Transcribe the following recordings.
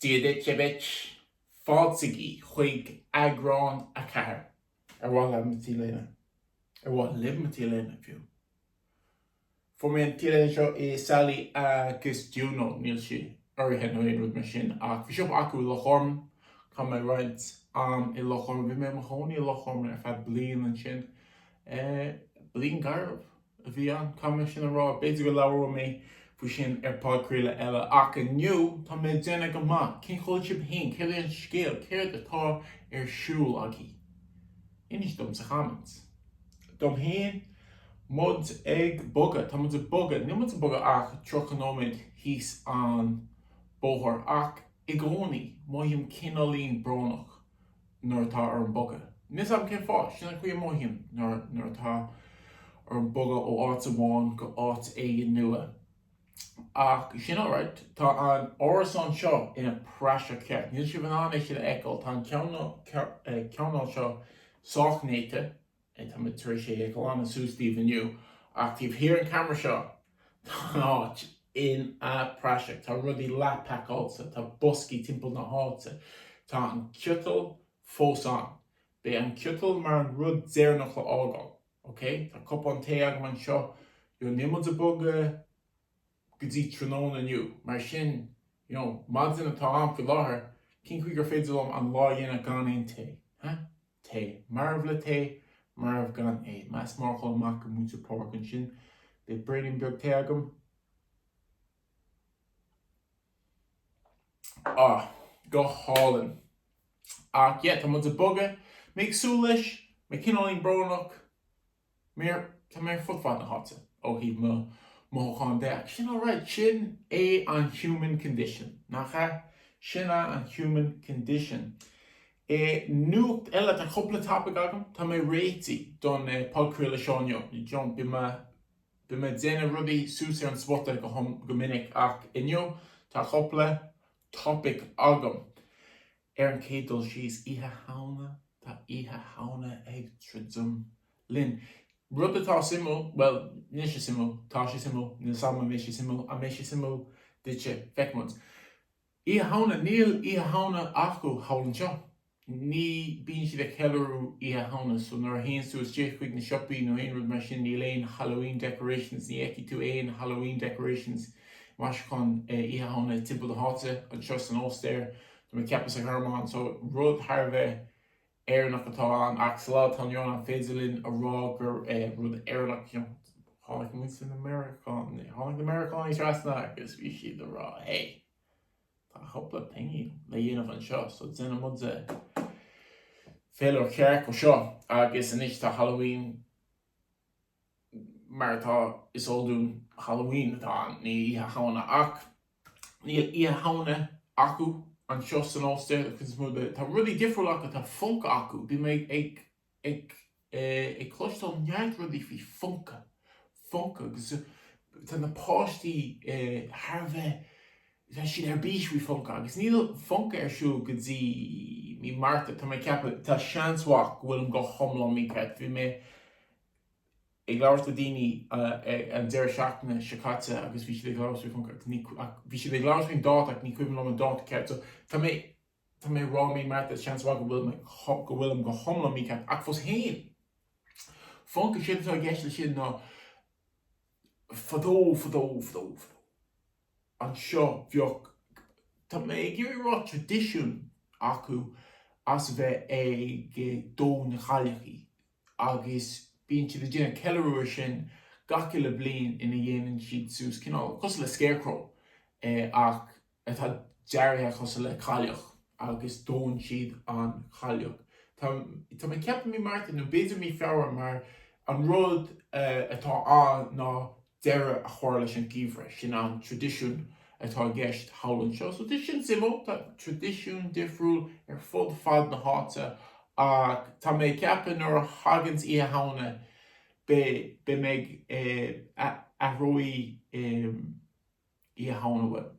Dia duit, Dia daoibh! Fáiltigí chuig eagrán 4. Ar mhaith leat mo T-léine? Ar mhaith libh mo T-léine, fiú? Fuair mé an T-léine seo i Sally agus Juno. Níl sí urraithe nó aon rud mar sin, ach bhí siopa acu i Loch Garman. Chaith mé roinnt am i Loch Garman. Bhí mé i mo chónaí i Loch Garman ar feadh bliain ansin. Bliain garbh. a bhí ann. Caithfidh mé sin a rá. B'fhéidir go labhróidh mé faoi sin ar podchraoladh eile. Ach inniu, tá mé ag déanamh go maith. Cén chaoi a bhfuil sibh féin? Cad é an scéal? Céard atá ar siúl agaibh? Inis dom sa comments. Dom féin, tá muid ag bogadh. Tá muid ag bogadh. Níl muid ag bogadh ach 30 nóiméad thíos an bóthar. Ach i gcónaí, mothaím cineáilín brónach. nuair atá orm bogadh. Níl 's a'm cén fáth, sin an chaoi a mothaím nuair atá orm bogadh ó áit amháin go áit éigin nua. Ach sin alright, tá an árasán seo ina praiseach ceart. Níl sibh in ann é sin a fheiceáil, tá an cineál seo sách néata, Bhuel, tá muid tar éis é a ghlanadh suas daoibh inniu, ach taobh thiar an camera seo, tá an áit in a praiseach. Tá rudaí leathpacáilte, tá boscaí timpeall na háite. Tá an ciotal fós ann. Beidh an ciotal mar an rud deireanach le fhágáil. Okay? Tá cupán tae agam anseo. Níl muid a bogadh. go dtí tráthnóna inniu. Mar sin, you know, maidin atá ann faoi láthair, cén chaoi gur féidir liom an lá a dhéanamh gan aon tae? Huh? Tae. Marbh le tae, marbh gan é. Le shout out amach go muintir Pádraig ansin, beidh braonín beag tae agam. Ah, go hálainn. Ach, yeah, tá muid a bogadh. Mé ag súil leis, mé cineáilín brónach. Tá mé ar fud fad na háite ó thaobh mo mhothúcháin de agus sin alright, sin é an human condition, nach ea? Sin é an human condition. Nuacht eile, tá cúpla topaic agam, tá mé réití don podchraoladh seo inniu, you know, bím a' déanamh rudaí suas ar an spota go, go minic ach inniu tá cúpla topaic agam. Ar an chéad dul síos, Oíche Shamhna, tá Oíche Shamhna ag druidim linn. Rud atá suimiúil, bhuel, níl sé suimiúil, tá sé suimiúil, níl 'sam an mbeidh sé suimiúil, an mbeidh sé suimiúil duitse, feicfimid. Oíche Shamhna, níl Oíche Shamhna acu thall anseo. Ní bíonn siad ag ceiliúradh Oíche Shamhna, so nuair a théann tú isteach chuig na siopaí nó aon rud mar sin, níl aon Halloween decorations, ní fheicfidh tú aon Halloween decorations, maisiúcháin Oíche Shamhna timpeall na háite, anseo san Ostair. Tá mé ag ceapadh sa Ghearmáin, so rud thar a bheith Éireannach atá ann, ach sa lá atá inniu ann, an féidir linn a rá gur rud Éireannach, you know, tháinig muid na Meiriceánaigh, tháinig na Meiriceánaigh trasna agus bhí siad a rá, hey, tá cúpla pingin le dhéanamh anseo, so déanfaidh muide féile ceart de seo agus anois tá Halloween Mar atá is eol dúinn, Halloween atá ann, ní Oíche Shamhna. Ach níl Oíche Shamhna acu anseo san Ostair, an chuid is mó de. Tá rudaí difriúla acu, tá Funka acu. Bhí mé ag cloisteáil neart rudaí faoi Funka, Funka agus tá na páistí thar a bheith bheadh siad ar bís faoi Funka agus níl Funka ar siúl go dtí mí Márta. Tá mé ag ceapadh, tá seans mhaith go bhfuilim go hiomlán mícheart, bhí mé ag labhairt le daoine an deireadh seachtaine seo caite agus bhí siad ag labhairt faoi Funka agus ní, ach, bhí siad ag labhairt faoin dáta ach ní cuimhin liom an dáta ceart. So, tá mé, tá mé ag rá mí Márta, seans mhaith go bhfuil mé, go bhfuilim go hiomlán mícheart ach fós féin, Funka, séard atá i gceist leis sin ná, fadó, fadó, fadó, fadó. anseo bheadh, tá mé ag iarraidh a rá traidisiún acu as a bheith ag dó na cailleachaí agus bíonn siad ag déanamh ceiliúradh ar sin gach uile bliain ina dhéanann siad suas cineál cosúil le scarecrow ach atá dearaithe cosúil le cailleach agus dónn siad an chailleach. Tá, tá mé ag ceapadh mí Márta nó b'fhéidir mí Feabhra mar an rud atá ann ná deireadh a chur leis an geimhreadh, sin an traidisiún atá i gceist thall anseo. So tá sin suimiúil, tá traidisiún difriúil ar fud fad na háite ach tá mé ag ceapadh nuair a thaganns Oíche Shamhna beidh mé, aireoidh mé Oíche Shamhna uaim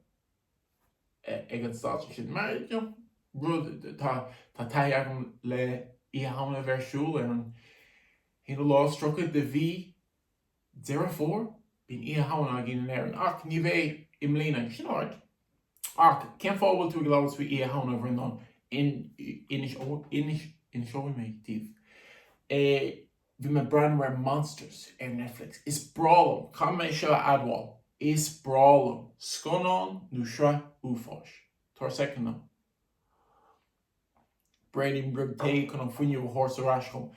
ag an stáitse sin mar you know rud tá tá taithí agam le Oíche Shamhna a bheith ar siúl ar an haon lá is tríocha de mhí Deireadh Fómhair, bíonn Oíche Shamhna againn in Éirinn, ach ní bheidh i mbliana. Sin álainn. Ach cén fáth a bhfuil tú ag labhairt faoi Oíche Shamhna, a Bhreandáin? Inseoidh mé daoibh é. Bhí mé ag breathnú ar Monsters ar Netflix. Is breá liom, caithfidh mé seo a admháil, is breá liom scannán nó sraith uafáis. Tabhair soicind dom. Braoinín beag tae chun an fuinneamh a thabhairt ar ais dhom.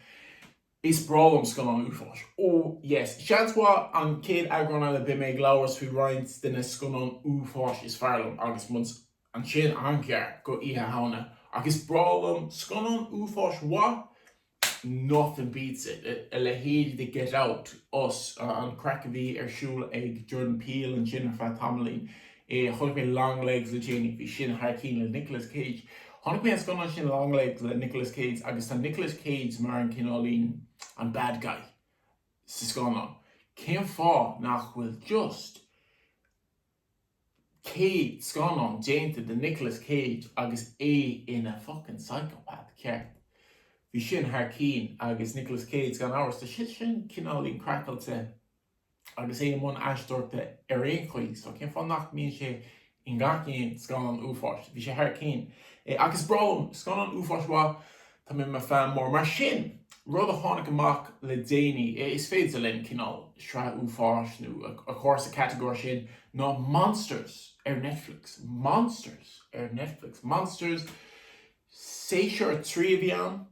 Is breá liom scannán uafáis. Ó, yes. Seans mhaith an chéad eagrán eile beidh mé ag labhairt faoi roinnt de na scannáin uafáis is fearr liom agus muid ansin an-ghar do Oíche Shamhna. Ach is breá liom scannán uafáis mhaith. nothing beats it, a leithéid de Get Out, Us, an chraic a bhí ar siúl ag Jordan Peele ansin ar feadh tamaillín, chonaic mé Longlegs le déanaí, bhí sin thar cinn le Nicolas Cage. Chonaic mé an scannán sin Longlegs le Nicolas Cage agus tá Nicolas Cage mar an cineáilín, an bad guy, sa scannán, cén fáth nach bhfuil just. céad scannán déanta de Nicolas Cage agus é ina fuckin psychopath ceart. Bhí sin thar cinn agus Nicolas Cage gan amhras, tá sé sin cineáilín craiceáilte agus é i mbun aisteoireachta ar aon chaoi, so cén fáth nach mbíonn sé i ngach aon scannán uafáis? Bhí sé thar cinn. Ach is breá liom scannán uafáis mhaith. Tá mé i mo fan mór mar sin! Rud a tháinig amach le déanaí, is féidir linn cineál sraith uafáis nó a chur sa chatagóir sin, ná Monsters ar Netflix. Monsters ar Netflix. Monsters, séasúr a trí a bhí ann.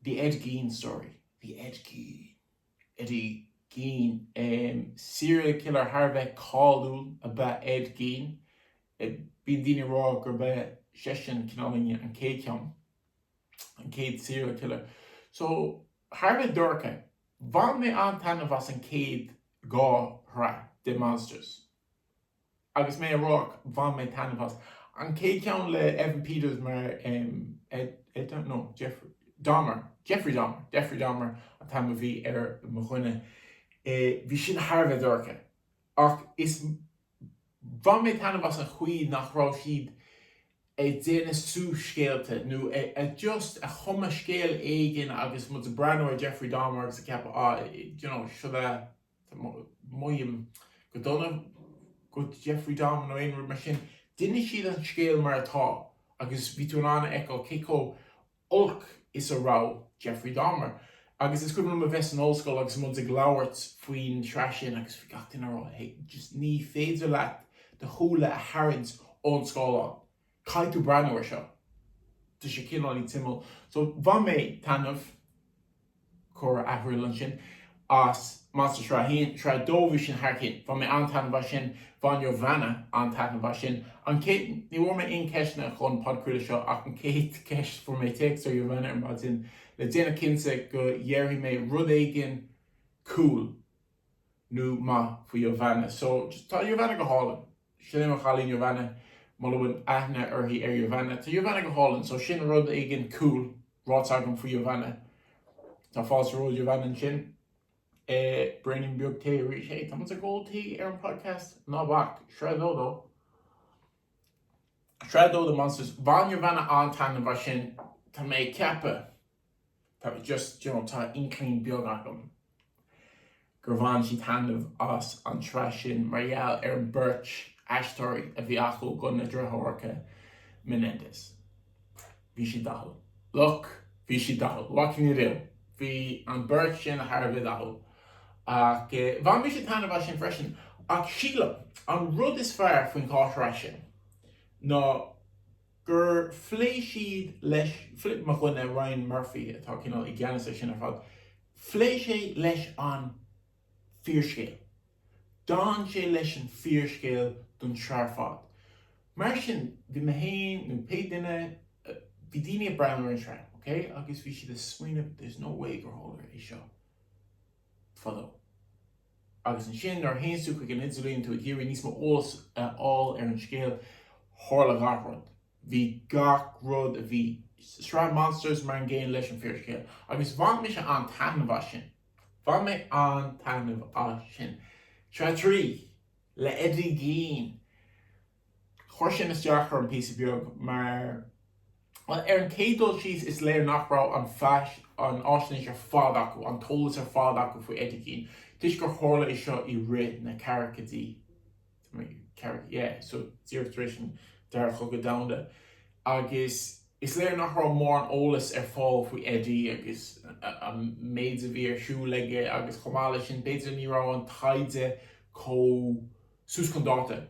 The Ed Gein Story. The Ed Gein. Eddie Gein. Serial killer thar a bheith cáiliúil ab ea Ed Gein. Bíonn daoine ag rá gurb é seisean cineál an chéad cheann. an chéad serial killer. So, thar a bheith dorcha, bhain mé an-taitneamh as an chéad dhá shraith de Monsters. Agus mé a rá, bhain mé taitneamh as an chéad cheann le Evan Peters mar Ed, no, Dahmer, Jeffrey Dahmer, Jeffrey Dahmer an t-ainm a bhí ar mo dhuine. Bhí sin thar a bheith dorcha. Ach is Bhain mé taitneamh as an chaoi nach raibh siad ag déanamh suas scéalta nó ag just ag cumadh scéal éigin agus muid ag breathnú ar Jeffrey Dahmer agus ag ceapadh ah you know sort of mothaím go dona do Jeffrey Dahmer nó aon rud mar sin. D'inis siad an scéal mar atá agus bhí tú in ann a fheiceáil cé chomh olc is a raibh Jeffrey Dahmer. Agus is cuimhin liom a bheith san ollscoil agus muid ag labhairt faoin tsraith sin agus bhí gach duine ag rá, hey, just ní féidir leat do shúile a tharraingt ón scáileán, caithfidh tú breathnú air seo. Tá sé cineál ag timpeall. So bhain mé taitneamh. Cuireadh athrú ansin as Monsters sraith 1, sraith 2 bhí sin thar cinn. Bhain mé an-taitneamh as sin, bhain Jovana an-taitneamh as sin. An chéad, ní bhfuair mé aon cheisteanna chun podchraoladh seo ach an chéad cheist, fuair mé téacs ó Jovana ar maidin le déanamh cinnte go ndéarfaidh mé rud éigin cool. nó maith faoi Jovana. So, tá Jovana go hálainn. Sin é mo chailín Jovana. Mura bhfuil aithne uirthi ar Jovana. Tá Jovana go hálainn. So, sin rud éigin cool ráite agam faoi Jovana. Tá fáilte romhat Jovana ansin. Eh, braoinín beag tae arís. Hey, tá muid ag ól tae ar an podcast. Ná bac. Sraith dó de, sraith dó de Monsters. Bhain Jovana an-taitneamh as sin. Tá mé ag ceapadh. tá just you know tá inkling beag agam gur bhain sí taitneamh as an tsraith sin mar gheall ar an beirt aisteoirí a bhí acu i gcoinne na driotháracha Menendez bhí siad dathúil look bhí siad dathúil what can you do bhí an beirt sin thar a bheith dathúil ach eh bhain mise taitneamh as sin freisin ach sílim an rud is fearr faoin dá shraith sin ná gur phléigh siad leis, mo dhuine, Ryan Murphy, atá cineál i gceannas air sin ar fad, phléigh sé leis an fíorscéal, d'fhan sé leis an fíorscéal don tsraith ar fad. Mar sin, bhí mé féin nó pé duine, bhí daoine ag breathnú ar an tsraith, ok, agus bhí siad ag smaoineamh, there's no way gur tharla é seo fadó. Agus ansin, nuair a théanns tú chuig an idirlíon, tá tú ag iarraidh níos mó eolas a fháil ar an scéal, tharla gach rud. Bhí gach rud a bhí sa sraith Monsters mar an gcéanna leis an fíorscéal. Agus bhain mise an-taitneamh as sin. Bhain mé an-taitneamh as sin. Sraith 3! Le Eddie Gein! Chuir sin isteach orm píosa beag mar, bhuel, ar an chéad dul síos, is léir nach raibh an fhaisnéis ar fad acu, an t-eolas ar fad acu faoi Eddie Gein, toisc gur tharla é seo i rith na gcaogaidí, so díreach tar éis an Dara Cogadh Domhanda, agus is léir nach raibh mórán eolais ar fáil faoi Eddie agus an méid a bhí ar siúl aige agus chomh maith leis sin, b'fhéidir, ní raibh an taighde chomh. suas chun dáta,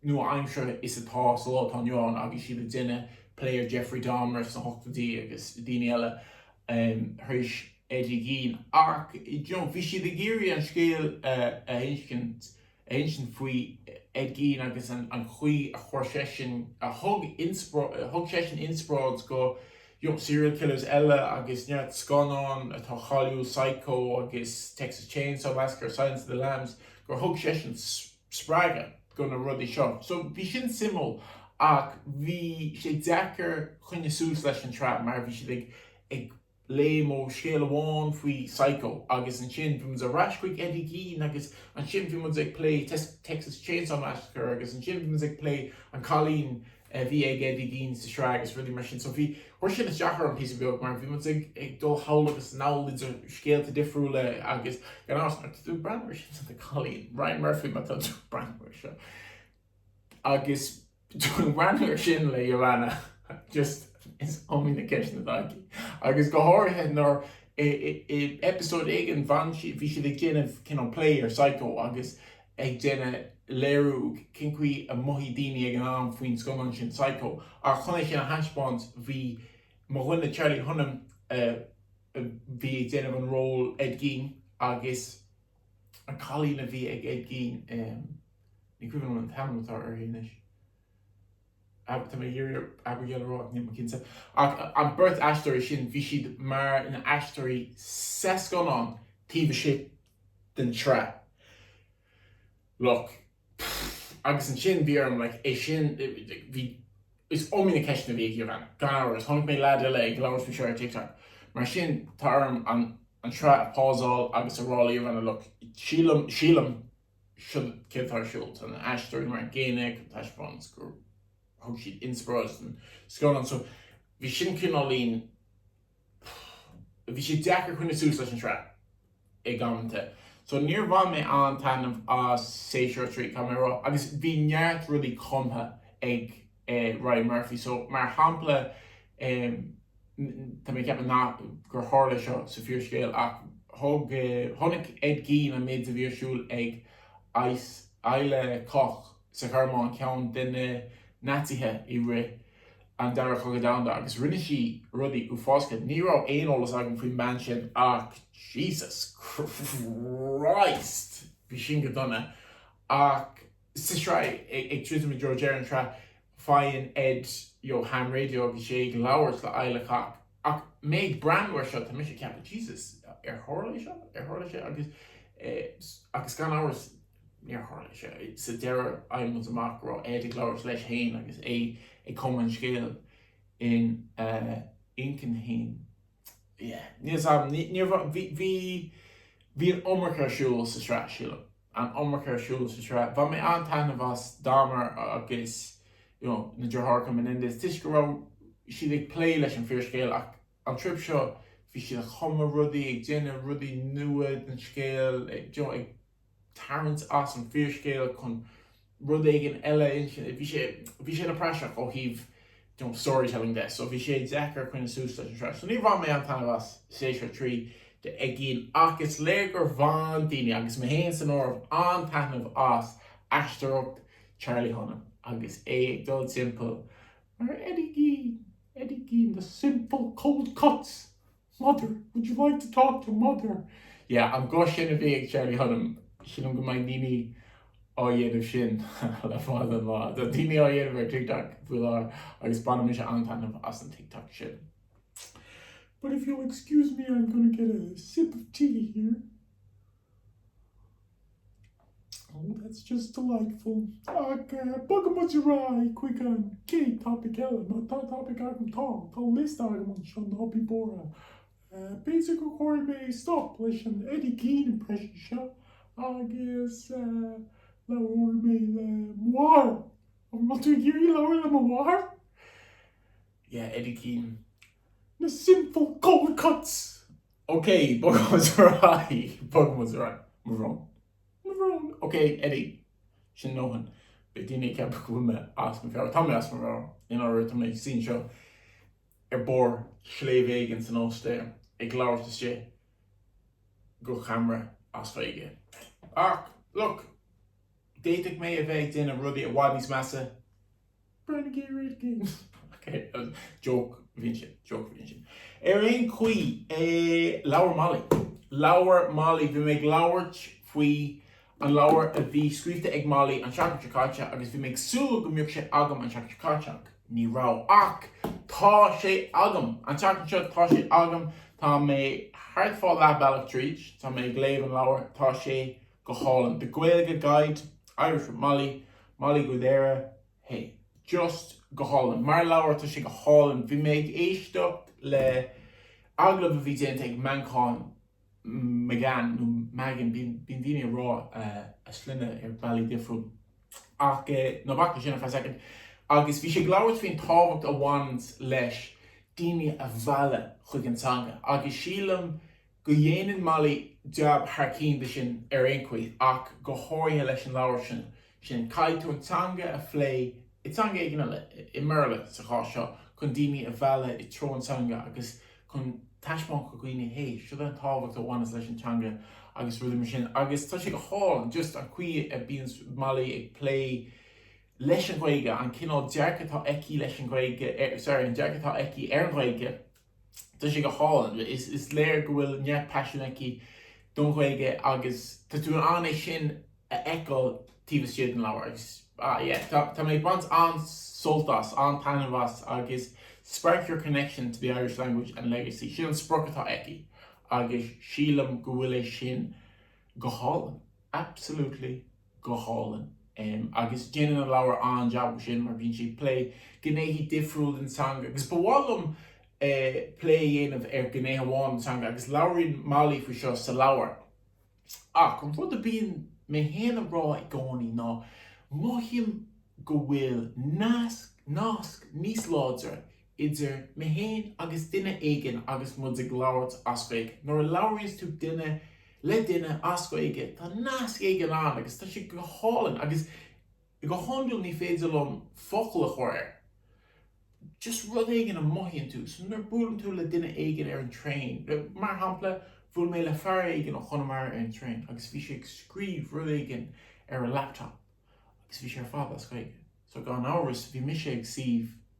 nua-aimseartha is atá sa lá atá inniu ann nó bhí siad ag déanamh plé ar Jeffrey Dahmer sna hochtóidí agus daoine eile tar éis Eddie Gein. Ach bhí siad ag iarraidh an scéal a insint faoi Ed Gein agus an chaoi a chuir seisean, a thug seisean inspioráid go serial killers eile agus neart scannán atá cáiliúil, Psycho agus Texas Chainsaw Massacre, Silence of the Lambs, gur thug seisean spreagadh do na rudaí seo. So bhí sin suimiúil ach bhí sé deacair coinneáil suas leis an tsraith mar bhí siad ag léim ó scéal amháin faoi Psycho agus ansin bhí muid ar ais chuig Eddie Gein agus ansin bhí muid ag plé Texas Chainsaw Massacre agus ansin bhí muid ag plé an cailín a bhí ag Eddie Gein sa sraith agus rudaí mar sin. So bhí, chuir siad isteach orm píosa beag mar bhí muid ag, ag dul thall agus anall idir scéalta difriúla agus gan amhras má tá tú ag breathnú ar sin tá tú ag cailín, Ryan Murphy má tá tú ag breathnú ar seo agus tú ag breathnú ar sin le Joanna just is iomaí na ceisteanna atá aici agus go háirithe nuair i, i, i episode éigin bhain sí, bhí siad ag déanamh cineál plé ar Psycho agus ag déanamh léiriú cén chaoi a mothaigh daoine ag an am faoin scannán sin Psycho. Ach chun é sin a thaispeáint, bhí mo dhuine Charlie Hunnam, a bhí ag déanamh an ról Ed Gein, agus an cailín a bhí ag Ed Gein, ní cuimhin liom an t-ainm atá uirthi anois, tá mé ag iarraidh Abigail a rá ach níl mé cinnte, ach an beirt aisteoirí sin, bhí siad mar na haisteoirí sa scannán taobh istigh. den tsraith. Like. Agus ansin bhí orm, like, é sin, bhí, is iomaí ceisteanna a bhí ag Ivan, gan amhras. Chonaic mé leaid eile ag labhairt faoi seo ar TikTok. Mar sin, tá orm an, an tsraith a phauseáil agus a rá le Ivan, a look, sílim, sílim, seo céard atá ar siúl, tá na haisteoirí mar an gcéanna, go dtaispeánann sé gur thug siad inspioráid don scannán. So, bhí sin cineáilín. Bhí sé deacair coinneáil suas leis an tsraith ag amanta so níor bhain mé aon taitneamh as séasúr a trí i gcomparáid leo agus bhí neart rudaí cumtha ag Ryan Murphy so mar shampla tá mé ag ceapadh nach gur tharla seo sa fíorscéal ach thug chonaic Ed Gein an méid a bhí ar siúl ag Ilse Koch sa Ghearmáin, ceann de na Naitsithe i rith an Dara Cogadh Domhanda, agus rinne sí rudaí uafásacha. Ní raibh aon eolas agam faoin mbean sin ach Jesus Christ, bhí sin go dona. Ach sa tsraith i dtreo dheireadh an tsraith, faigheann Ed, you know, ham radio agus é ag labhairt le Ilse Koch. Ach mé ag breathnú ar seo, tá mise ag ceapadh, Jesus, ar tharla é seo? Ar tharla sé? Agus gan amhras, Níor tharla sé. Sa deireadh, faighimid amach go raibh Ed ag labhairt leis fhéin agus é ag cumadh an scéil ina inchinn fhéin. Yeah. Bhí an iomarca ar siúl sa tsraith, sílim. An iomarca ar siúl sa tsraith. Bhain mé an-taitneamh as Dahmer agus you know na deartháireacha Menendez toisc go raibh siad ag plé leis an fíorscéal ach an trip seo bhí siad ag cumadh rudaí, ag déanamh rudaí nua den scéal, you know, ag. tarraingt as an fíorscéal chun rud éigin eile a insint. Bhí sé, bhí sé ina praiseach ó thaobh, you know, storytelling de, so bhí sé deacair coinneáil suas leis an sraith. So níor bhain mé aon taitneamh as séasúr a trí de Ed Gein ach is léir gur bhain daoine, agus mé féin san áireamh, an-taitneamh as aisteoireacht Charlie Hunnam agus é ag dul timpeall mar Eddie Gein, Eddie Gein, the sinful cold cuts! Mother, would you like to talk to mother? Yeah, an guth sin a bhí ag Charlie Hunnam, sílim go mbeidh daoine á dhéanamh sin go ceann fada an lá. Tá daoine á dhéanamh ar TikTok faoi láthair agus baineann mise an-taitneamh as an TikTok sin. But if you'll excuse me, I'm going to get a sip of tea here. Oh, that's just delightful. Ach bogadh muid ar aghaidh chuig an gcéad topaic eile. Má tá topaic agam, tá, tá liosta agam anseo, ná bí buartha. B'fhéidir go gcuirfidh mé stop leis an Eddie Keane impression seo agus labhróidh mé libh mar. An bhfuil tú ag iarraidh labhairt le mo mháthair? Yeah, Eddie Keane, Na Simple Go Cuts! OK, bogfaimid ar aghaidh, bogfaimid ar aghaidh. Mo bhrón. Mo bhrón. OK, Eddie. Sin do dhóthain. Beidh daoine ag ceapadh go bhfuil mé as mo mheabhair. Tá mé as mo mheabhair. I ndáiríre, tá mé ag suí anseo ar barr shléibhe éigin san Ostair ag labhairt isteach go camera as Gaeilge. Ach, look, d'fhéadfadh mé a bheith ag déanamh rudaí i bhfad níos measa Ar aon chaoi, leabhar Molly. Leabhar Molly. Bhí mé ag labhairt faoi an leabhar a bhí scríofa ag Molly an seachtain seo caite agus bhí mé ag súil go mbeadh sé agam an seachtain seo caite ach ní raibh. Ach tá sé agam! An tseachtain seo, tá sé agam. Tá mé thart fá leath bealach tríd. Tá mé ag léamh an leabhair. Tá sé. Go hálainn. The Gaeilge Guide, Irish with Molly, Mollie Guidera, hey. Just go hálainn. Mar leabhar, tá sé go hálainn. Bhí mé ag éisteacht le agallamh a bhí déanta ag Manchán McGann, nó Magan, bíonn daoine ag rá a sloinne ar bhealaí difriúil, ach ná bac leis sin ar feadh soicind, agus bhí sé ag labhairt faoin tábhacht a bhaineanns le daoine a mhealladh chuig an teanga, agus sílim go ndéanann Molly jab thar cinn de sin ar aon chaoi, ach go háirithe leis an leabhar sin. Sin, caithfidh tú an teanga a phlé, i dteanga éigin eile, i mBéarla sa chás seo, chun daoine a mhealladh i treo an teanga agus chun taispeáint do dhaoine, hé, seo é an tábhacht a bhaineas leis an teanga agus rudaí mar sin. Agus tá sé go hálainn, just an chaoi a mbíonns Molly ag plé leis an Ghaeilge, an cineál dearcaidh atá aici leis an Ghaeilge, sorry, an dearcadh atá aici ar an Ghaeilge, tá sé go hálainn. Is léir go bhfuil neart paisin aici don Ghaeilge agus tá tú in ann é sin a fheiceáil taobh istigh den leabhar agus tá mé ag baint an-sult as, an-taitneamh as agus spark your connection to the Irish language and legacy, sin an sprioc atá aici agus sílim go bhfuil é sin go hálainn, absolutely Go hálainn. Agus déanann an leabhar an-jab air sin mar bíonn sí ag plé gnéithe difriúla den teanga agus ba mhaith liom plé a dhéanamh ar ghné amháin den teanga agus labhraíonn Molly faoi seo sa leabhar. Ach an rud a bíonn mé féin a rá i gcónaí ná mothaím go bhfuil nasc, nasc níos láidre idir mé féin agus duine éigin agus muid ag labhairt as Gaeilge. Nuair a labhraíonns tú duine le duine as Gaeilge, tá nasc éigin ann agus tá sé go hálainn agus go hiondúil ní féidir liom focail a chur air, just rud éigin a mothaíonn tú. So nuair a buaileann tú le duine éigin ar an traein, mar shampla, bhuail mé le fear éigin ó Chonamara ar an traein agus bhí sé ag scríobh rud éigin ar a laptop agus bhí sé ar fad as Gaeilge. So gan amhras bhí mise ag suí.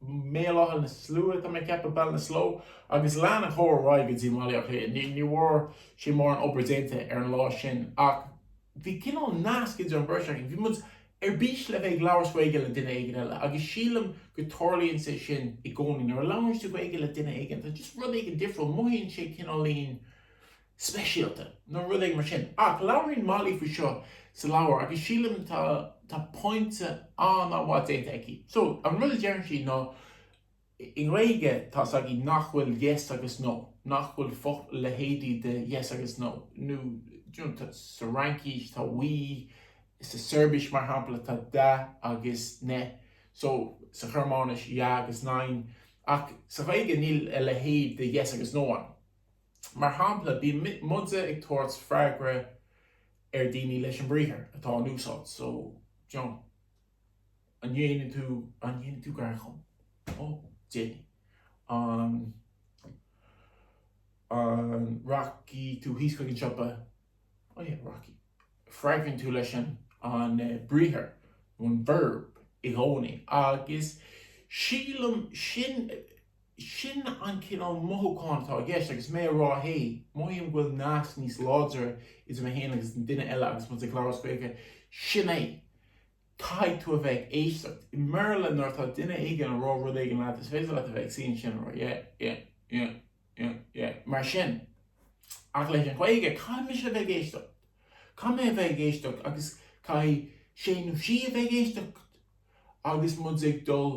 mBéal Átha na Sluaighe, tá mé ag ceapadh, Ballinasloe, agus lean an comhrá ar aghaidh go dtí Baile Átha Cliath. Ní bhfuair sé mórán oibre déanta ar an lá sin ach bhí cineál nasc idir an bheirt againn, bhí muid ar bís le bheith ag labhairt Gaeilge le duine éigin eile agus sílim go dtarlaíonn sé sin i gcónaí, nuair a labhraíonn tú Gaeilge le duine éigin tá just rud éigin difriúil, mothaíonn sé cineáilín. speisialta nó rud éigin mar sin. Ach labhraíonn Molly faoi seo sa leabhar agus sílim tá tá pointe an-mhaith déanta aici. So, an rud a deireann sí ná i nGaeilge tá's againn nach bhfuil yes agus no, nach bhfuil a leithéid de yes agus no, nó you know tá sa Fhraincís tá oui, sa tSeirbis mar shampla tá da agus ne, so sa Ghearmáinis ja agus nein, ach sa Ghaeilge níl a leithéid de yes agus no ann. Mar shampla, bíonn muide ag tabhairt freagra ar daoine leis an briathar atá in úsáid, so, John, an ndéanann t, an ndéanfaidh tú gar dhom? Oh, déanfaidh. An, an rachaidh tú síos chuig an siopa? Oh yeah, rachaidh. Freagraíonn tú leis an, an briathar, nó an verb, i gcónaí, agus sílim sin, Sin an cineál mothúchán atá i gceist agus mé a rá 'hey, mothaím go bhfuil nasc níos láidre idir mé féin agus an duine eile agus muid ag labhairt as Gaeilge', sin é! Caithfidh tú a bheith ag éisteacht. I mBéarla, nuair atá duine éigin ag rá rud éigin leat, is féidir leat a bheith ag suí ansin a rá 'yeah, yeah, yeah, yeah, yeah, mar sin'. Ach leis an Ghaeilge, caithfidh mise a bheith ag éisteacht. Caithfidh mé a bheith ag éisteacht agus caithfidh sé nó sí a bheith ag éisteacht agus muid ag dul.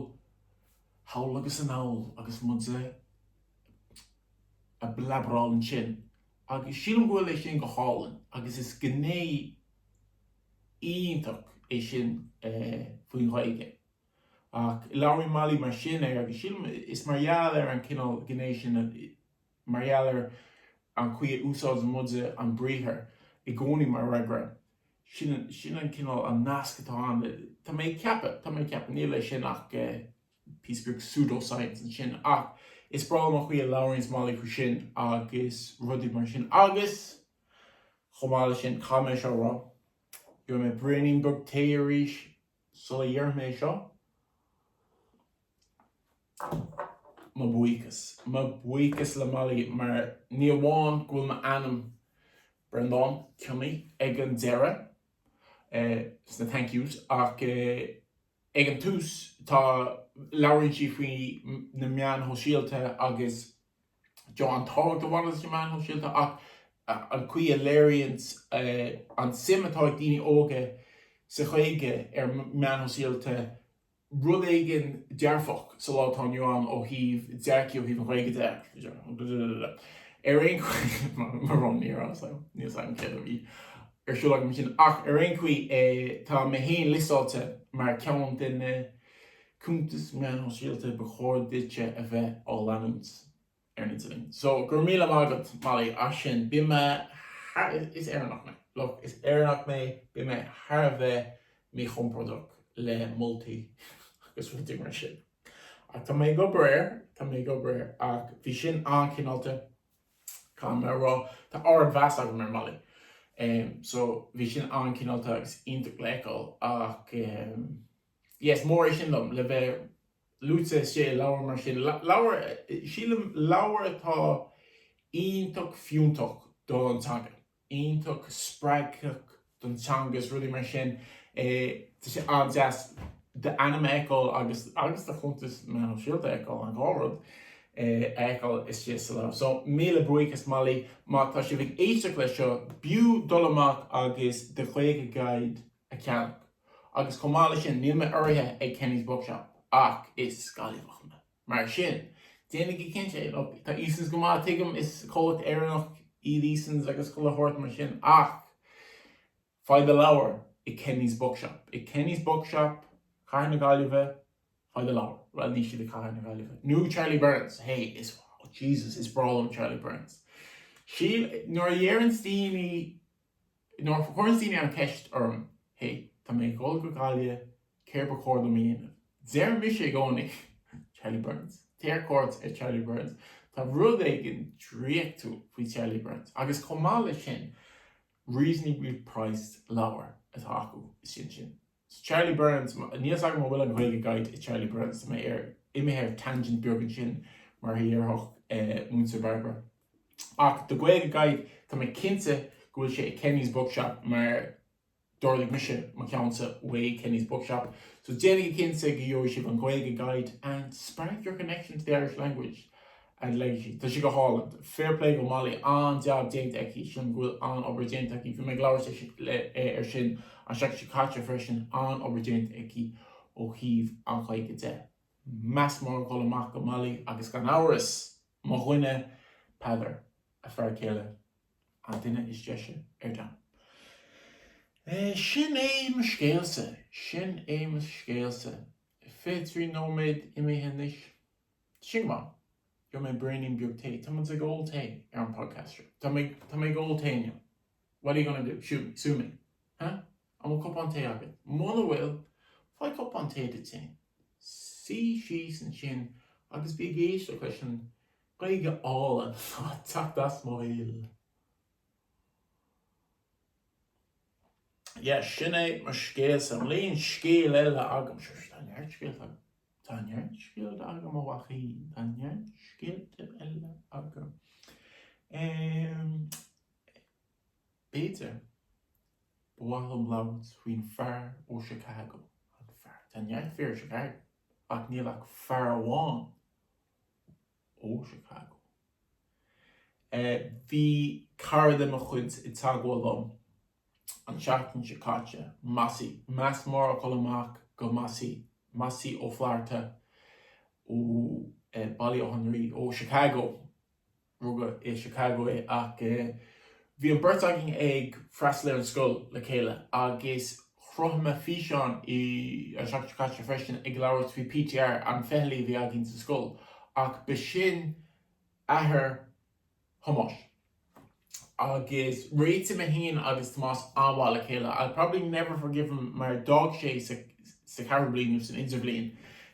Thall agus anall agus muid a' plabaráil ansin agus sílim go bhfuil é sin go hálainn agus is gné iontach é sin faoin Ghaeilge ach labhraíonn Molly mar sin air agus sílim is mar gheall ar an chineál gné sin, mar gheall ar an chaoi a úsáideann muide an briathar i gcónaí mar fhreagra Sin an cineál nasc atá ann, tá mé ag ceapadh. Tá mé ag ceapadh. Níl é sin ach píosa beag pseudo-science ansin. Ach is breá liom an chaoi a labhraíonns Molly faoi sin agus rudaí mar sin. Agus, chomh maith leis sin, caithfidh mé seo a rá. Gheobhaidh mé braoinín beag tae arís. Sula ndéarfaidh mé é seo, mo bhuíochas. Mo bhuíochas le Molly mar ní amháin go bhfuil m'ainm, Brendan Cionnaith, ag an deireadh, sna thank yous, ach ag an tús, tá, labhraíonn sí faoi na meáin shóisialta agus, an tábhacht a bhaineas leis na meáin shóisialta ach an chaoi a léiríonn an suim atá ag daoine óga sa Ghaeilge ar na meáin shóisialta rud éigin dearfach sa lá atá inniu ann ó thaobh dearcadh, ó thaobh an Ghaeilge de. Ar aon chaoi, mo rún, ní raibh fhios agam, níl fhios agam céard a bhí ar siúl agam ansin, ach ar aon chaoi, tá mé féin liostáilte mar cheann de na cuntais meán sóisialta ba chóir duitse a bheith á leanúint ar an idirlíon. So, go raibh míle maith agat Molly as sin. Bíonn mé thar, is Éireannach mé, look, is Éireannach mé, bíonn mé thar a bheith míchompordach le moltaí agus rudaí mar sin. Ach tá mé ag obair air, tá mé ag obair air. Ach bhí sin an-chineálta, caithfidh mé a rá. Tá ardmheas agam ar Molly. So, bhí sin an-chineálta agus iontach le feiceáil ach. yes is mór é sin dom le bheith luaite istigh i leabhar mar sin leabhar sílim leabhar atá iontach fiúntach don teanga iontach spreagthach don teanga is rudaí mar sin é tá sé an-deas d'ainm a fheiceáil agus agus do chuntas meán sóisialta a fheiceáil an dhá rud a fheiceáil istigh sa leabhar so míle buíochas Molly má tá sibh ag éisteacht leis seo b'fhiú dul amach agus The Gaeilge Guide a cheannach agus chomh maith leis sin, níl mé urraithe ag Kenny's Bookshop ach is Gaillimheach mé. Mar sin, déanaigí cinnte. Nó tá Easons go maith, tuigim, is comhlacht Éireannach iad Easons agus chuile shórt mar sin ach faigh do leabhar i Kenny's Bookshop. I Kenny's Bookshop Cathair na Gaillimhe, faigh do leabhar. Bhuel, níl siad i gCathair na Gaillimhe. Nó Charlie Byrne's, hé, is, Jesus, is breá liom Charlie Byrne's. Sílim, nuair a deireanns daoine, Nuair a chuireann daoine an cheist orm, hey, tá mé ag dhul go Gaillimh, céard ba chóir dom a dhéanamh? Deirimse i gcónaí, Charlie Byrne's. Téigh ar cuairt ar Charlie Byrne's. Tá rud éigin draíochtúil faoi Charlie Byrne's. Agus chomh maith leis sin, reasonably priced leabhair atá acu, is sin sin. i Charlie Byrne's. Níl fhios agam an bhfuil an Gaeilge Guide i Charlie Byrne's. Tá mé ar imithe ar tangent beag ansin mar a dhéarfadh Múinteoir Bairbre. Ach The Gaeilge Guide, tá mé cinnte go bhfuil sé i Kenny's Bookshop mar d'ordaigh mise mo cheannsa uaidh Kenny's Bookshop. So déanaigí cinnte go gheobhaidh sibh an Gaeilge Guide and spark your connection to the Irish language. fhad léi. Tá sí go hálainn. Fair play go Molly, an-jab déanta aici. Sílim go bhfuil an-obair déanta aici. Bhí mé ag labhairt léi air sin an seachtain seo caite freisin. An-obair déanta aici ó thaobh an Ghaeilge de. Meas mór ag dul amach go Molly agus gan amhras, mo dhuine Peadar, a fear céile, an duine is deise ar domhan. Sin é mo scéalsa. Sin é mo scéalsa. Fiche trí nóiméad imithe anois. Sin maith. Gheobhaidh mé braoinín beag tae. Tá muid ag ól tae ar an podcast seo. Tá mé, tá mé ag ól tae inniu. What are you gonna do? Shoot me? Sue me? Huh? An bhfuil cupán tae agat? Muna bhfuil, faigh cupán tae duit féin. Suigh síos ansin agus bí ag éisteacht leis an Ghaeilge álainn atá ag teacht as mo bhéal. Yeah, sin é mo scéalsa i mbliana. Scéal eile agam. Sure, sure, tá neart scéalta agam. Tá neart scéalta agam, a bhuachaillí, tá neart scéalta eile agam. Em. b'fhéidir, ba mhaith liom labhairt faoin fear ó Chicago, an fear, tá neart fir i Chicago, ach níl ach fear amháin ó Chicago. Bhí cara de mo chuid i dteagmháil liom an seachtain seo caite, Mossy, meas mór ag dul amach go Mossy, Mossy Ó Flatharta ó Baile Átha an Rí, ó Chicago, rugadh i Chicago é, ach bhí an beirt againn ag freastal ar an scoil le chéile agus Chruthaigh mé físeán an seachtain seo caite freisin ag labhairt faoi PTR an fitheallaí a bhí againn sa scoil ach b'shin athair Thomáis agus réitigh mé féin agus Tomás an-mhaith le chéile. I'll probably never forgive him mar d'fhág sé sa sa cheathrú bliain nó san idirbhliain,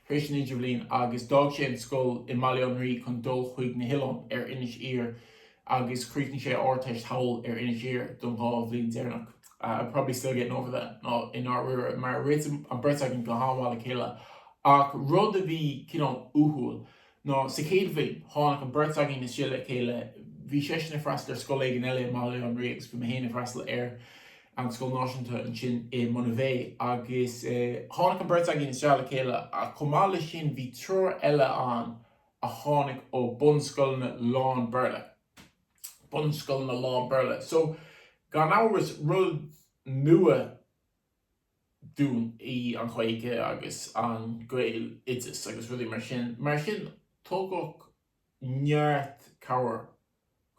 tar éis an idirbhliain agus d'fhág sé an scoil i mBaile Átha an Rí chun dul chuig na hoileáin ar Inis Oírr agus chríochnaigh sé a Ardteist thall ar Inis Oírr don dhá bhliain deireanach. I'm probably still getting over that nó i ndáiríre mar réitigh an beirt againn go han-mhaith le chéile ach rud a bhí cineál uathúil ná sa chéad bhliain tháinig an beirt againn isteach le chéile, bhí seisean ag freastal ar scoil éigin eile i mBaile Átha an Rí agus bhí mé féin ag freastal ar an scoil náisiúnta ansin i Monivea agus tháinig an beirt againn isteach le chéile ach chomh maith leis sin bhí triúr eile ann a tháinig ó bunscoileanna lán-Bhéarla. Bunscoileanna lán-Bhéarla. So, gan amhras, rud nua dúinn í an Ghaeilge agus an Gaeloideas agus rudaí mar sin. Mar sin, tugadh neart cabhair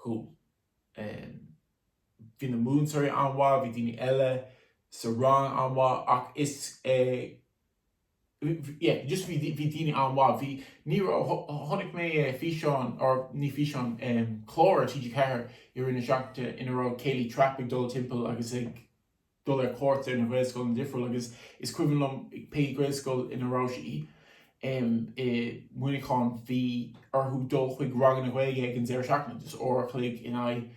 dúinn. Bhí na múinteoirí an-mhaith, bhí daoine eile sa rang an-mhaith ach is yeah just bhí daoine an-mhaith, bhí, ní raibh, chonaic mé físeán, or ní físeán, clár ar TG4 i rith na seachtaine ina raibh Kayleigh Trappe ag dul timpeall agus ag dul ar cuairt ar na Gaelcholáistí difriúla agus is cuimhin liom pé Gaelscoil ina raibh sí i Muineachán bhí orthu dul chuig ranganna Gaeilge ag an deireadh seachtaine, just uair a chloig in aghaidh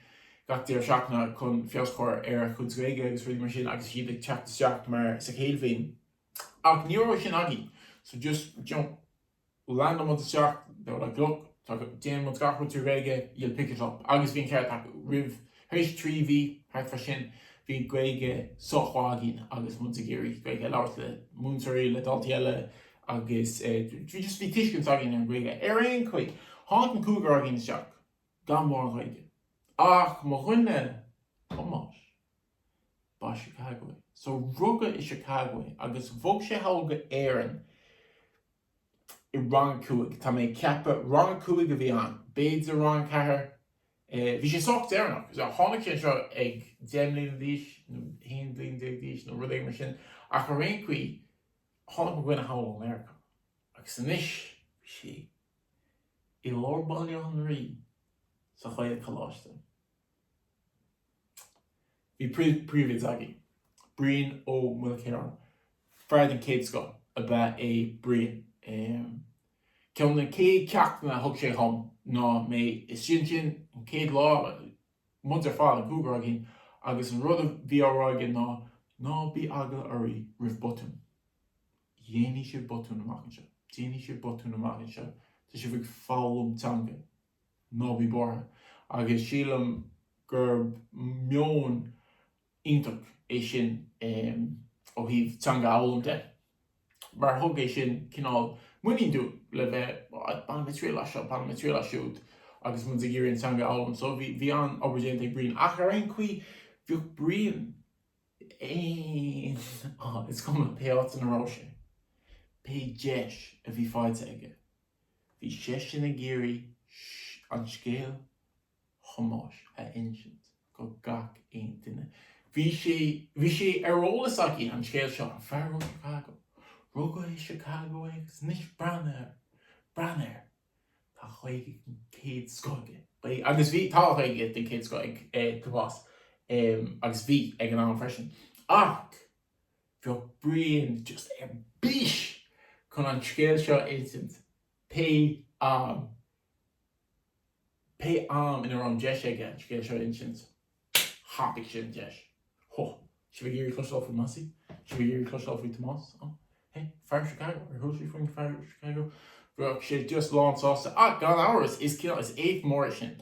gach deireadh seachtaine chun feabhas a chur ar a gcuid Gaeilge mar sin agus iad ag teacht isteach mar, sa chéad bhliain. Ach ní raibh sin againn, so just, you know, léim muid isteach, they were like, look, tá, déanann muid gach rud trí Ghaeilge, you'll pick it up. Agus bhí an ceart acu, roimh, tar éis trí mhí, thart air sin, bhí an Ghaeilge sách maith againn agus muid ag iarraidh Gaeilge a labhairt le múinteoirí, le daltaí eile agus bhí just, bhí tuiscint againn ar an Ghaeilge. Ar aon chaoi, tháinig an cúigear againn isteach gan mórán Gaeilge, ach mo dhuine, Tomás, Ba as Chicago é. So rugadh i Chicago é agus bhog sé go hÉirinn i rang a cúig, tá mé ag ceapadh, rang a cúig a bhí ann, b'fhéidir rang a ceathair. Bhí sé sách deireanach. So tháinig sé anseo ag deich mbliana d'aois nó haon bhliain déag d'aois nó rud éigin mar sin. Ach ar aon chaoi, tháinig mo dhuine anall ó Mheiriceá agus anois bhí sé i lár Bhaile Átha an Rí sa Choláiste an Eachréidh. Bhí príomhoide againn, Brian Ó Maoilchiaráin. Fear den chéad scoth ab ea é Brian. Ceann de na céad ceachtanna a thug sé dhom ná muid istigh ansin an chéad lá, muid ar fad, an cúigear againn, agus an rud a bhí á rá aige ná, 'Ná bí eagla oraibh roimh botúin. Déanfaidh sibh botúin amach anseo. Déanfaidh sibh botúin amach anseo. Tá sibh ag foghlaim teanga. ná bí buartha, agus sílim gurb meon iontach é sin ó thaobh teanga a fhoghlaim de, mar thug sé sin cineál muinín dúinn le bheith, bainfidh mé triail as seo, bainfidh mé triail as siúd, agus muid ag iarraidh an teanga a fhoghlaim. So bhí an-obair déanta ag Brian, ach ar aon chaoi, bheadh Brian, is cuma pé áit ina raibh sé, pé deis a bhí faighte aige. Bhí seisean ag iarraidh scéal Thomáis a insint go gach aon duine. Bhí sé, bhí sé ar eolas aige, an scéal seo, an fear ó Chicago. Rugadh i Chicago é agus anois breathnaigh air, breathnaigh air. Tá Gaeilge den chéad scoth aige. Bhí, agus bhí, tá Gaeilge den chéad scoth ag Tomás, agus bhí, ag an am freisin. Ach Bheadh Brian just ar bís chun an scéal seo a insint pé am, pé am ina raibh an deis aige an scéal seo a insint, thapaigh sé an deis. Ó, sibh ag iarraidh cloisteáil faoi Mossy? Sibh ag iarraidh cloisteáil faoi Tomás? Ó, hé, fear Chicago, ar chuala sibh faoin fear Chicago? Bheadh sé just lánsásta, ach gan amhras, is cineál, is éacht mór é sin,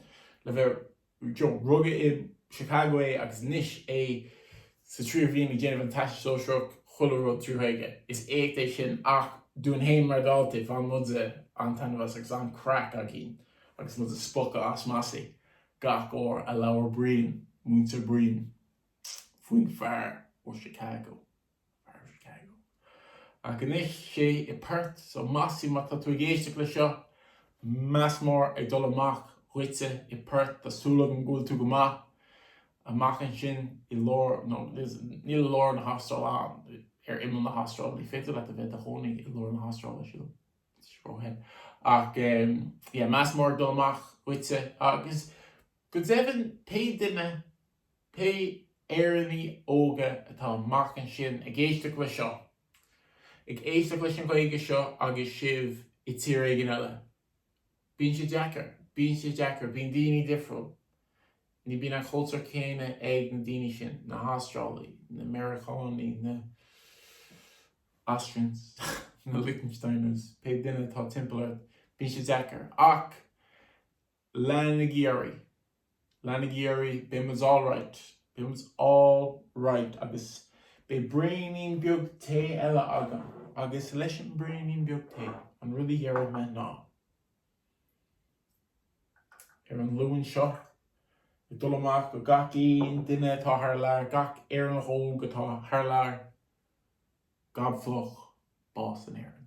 le bheith. Rugadh i Chicago é agus anois é sa tríú bhliain ag déanamh an Teastas Sóisearach, chuile rud trí Ghaeilge. Is éacht é sin ach dúinn féin mar dhaltaí, bhain muide an-taitneamh as agus an-craic againn agus muid ag spochadh as Mossy gach uair a labhair Brian, Múinteoir Brian, faoin fear ó Chicago. Ach anois sé i Perth, so Mossy, má tá tú ag éisteacht le seo, meas mór ag dul amach dhuitse i Perth, tá súil agam go bhfuil tú go maith amach ansin i lár, no, níl i lár na hAstráile ann, ar imeall na hAstráile, ní féidir leat a bheith i do chónaí i lár na hAstráile, sílim, go ahead. Ach, yeah, meas mór ag dul amach dhuitse, agus go deimhin pé duine Pé Éireannaigh óga atá amach ansin ag éisteacht leis seo, ag éisteacht leis an Ghaeilge seo agus sibh i tír éigin eile, bíonn sé deacair, bíonn sé deacair, bíonn daoine difriúil, ní bíonn an cultúr céanna ag na daoine sin, na hAstrálaigh, na Meiriceánaigh, na Austrians, na Liechtensteiners, pé duine atá timpeall ort, bíonn sé deacair. Ach Leanaigí oraibh. Leanaigí oraibh. Beidh muid all right. Beidh muid all right. Agus beidh braoinín beag tae eile agam. Agus leis an braoinín beag tae, an rud a dhéarfaidh mé ná, ar an Luan seo, ag dul amach go gach aon duine atá thar lear, gach Éireannach óg atá thar lear, gob fliuch, bás in Éirinn.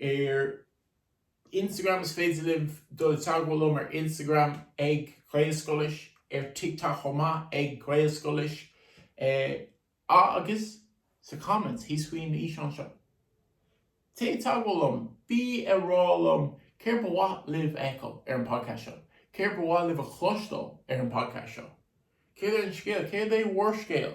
Ar Instagram is féidir libh dul i dteagmháil liom ar Instagram ag Gaelscoilis, ar TikTok chomh maith ag Gaelscoilis, agus sa comments thíos faoin fhíseán seo. Téigh i dteagmháil liom, bí ag rá liom céard ba mhaith libh a fheiceáil ar an podcast seo, céard ba mhaith libh a chloisteáil ar an podcast seo, céard é an scéal, céard é bhur scéal?